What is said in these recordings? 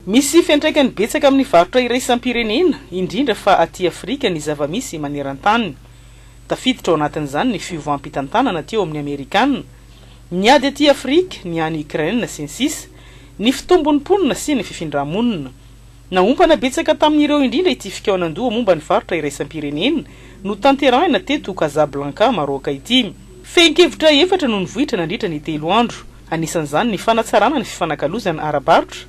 Misy fiantraikany betsaka amin'ny varotra iraisam-pirenena, indrindra fa aty Afrika ny zava-misy maneran-tany. Tafiditra ao anatin'izany ny fiovam-pitantanana aty ao amin'ny Amerikana, ny ady aty Afrika, ny any Ukraine, sy ny sisa Ny fitombon'ny mponina sy ny fifindrà-monina. Naompana betsaka tamin'ireo indrindra ity fikaonandoha momba ny varotra iraisam-pirenena notanterahina teto Casablanca, Maroc, ity. Fehin-kevitra efatra no nivoitra nandritra ny telo andro. anisan'izany ny fanatsarana ny fifanakalozana ara-barotra,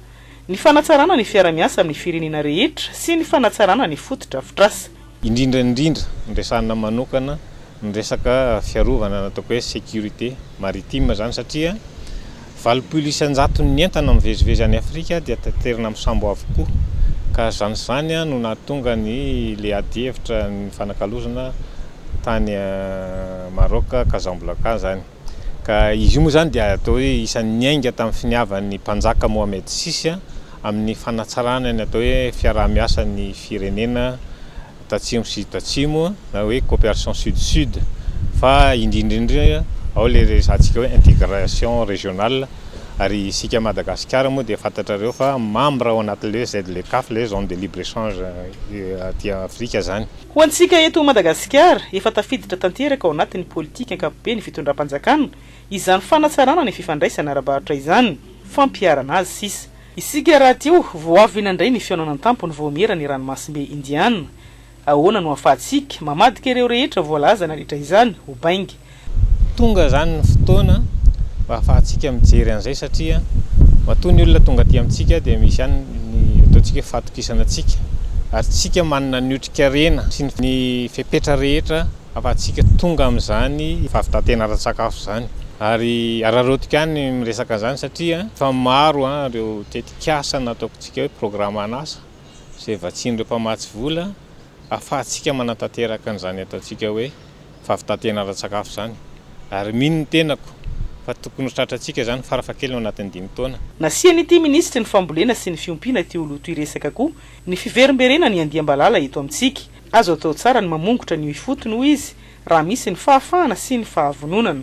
ny fanatsarana ny fiara-miasa amin'ny firenena rehetra sy ny fanatsarana ny fotodrafitrasa. Indrindra indrindra, noresahina manokana ny resaka fiarovana na ataoko hoe sécurité maritime izany satria valopolo isan-jaton'ny entana mivezivezy any Afrika dia taterina amin'ny sambo avokoa ka izany sy izany no nahatonga ny ilay adihevitra nifanakalozana tany Maroc, Casamblanca izany. ka izy io moa izany dia atao hoe isan'ny niainga tamin'ny finiavan'ny Mpanjaka Mohamed vi amin'ny fanatsarana ny atao hoe fiaraha-miasan'ny firenena tatsimo sy tatsimo na hoe coopération sud-sud fa indrindra indrindra ao ilay resahantsika hoe intégration régionale ary isika Madagasikara moa dia fantatrareo fa membre ao anatin'ilay hoe ZLECAF, ilay hoe zone de libre échange aty Afrika izany. Ho antsika eto Madagasikara, efa tafiditra tanteraka ao anatin'ny politika ankapobeny fitondram-panjakana izany fanatsarana ny fifandraisana ara-barotra izany, fampiharana azy, sisa. Isika rahateo vao avy nandray ny fihaonana an-tampony vaomiera ny ranomasimbe Indiana. Ahoana no ahafahantsika mamadika ireo rehetra voalaza nandritra izany ho bainga? Tonga izany ny fotoana mba hahafahantsika mijery an'izay satria matoa ny olona tonga aty amintsika dia misy ihany ny ataontsika hoe fahatokisana antsika ary tsika manana ny otrikarena sy ny fepetra rehetra hahafahantsika tonga amin'izany fahavitantena ara-tsakafo izany ary araraotiko ihany ny miresaka an'izany satria efa maro ireo tetikasa na ataoko tsika hoe programa an'asa izay vatsian'ireo mpamatsy vola hahafahantsika manatanteraka an'izany ataontsika hoe fa fitantehana ara-tsakafo izany ary mino ny tenako fa tokony ho tratrantsika izany farafahakeliny ao anatin'ny dimy taona. Nasian'ity minisitry ny fambolena sy ny fiompiana ity oloto iresaka koa ny fiverimberena ny andiam-balala eto amintsika. Azo atao tsara ny mamongotra an'io ifotony hoy izy raha misy ny fahafahana sy ny fahavononana.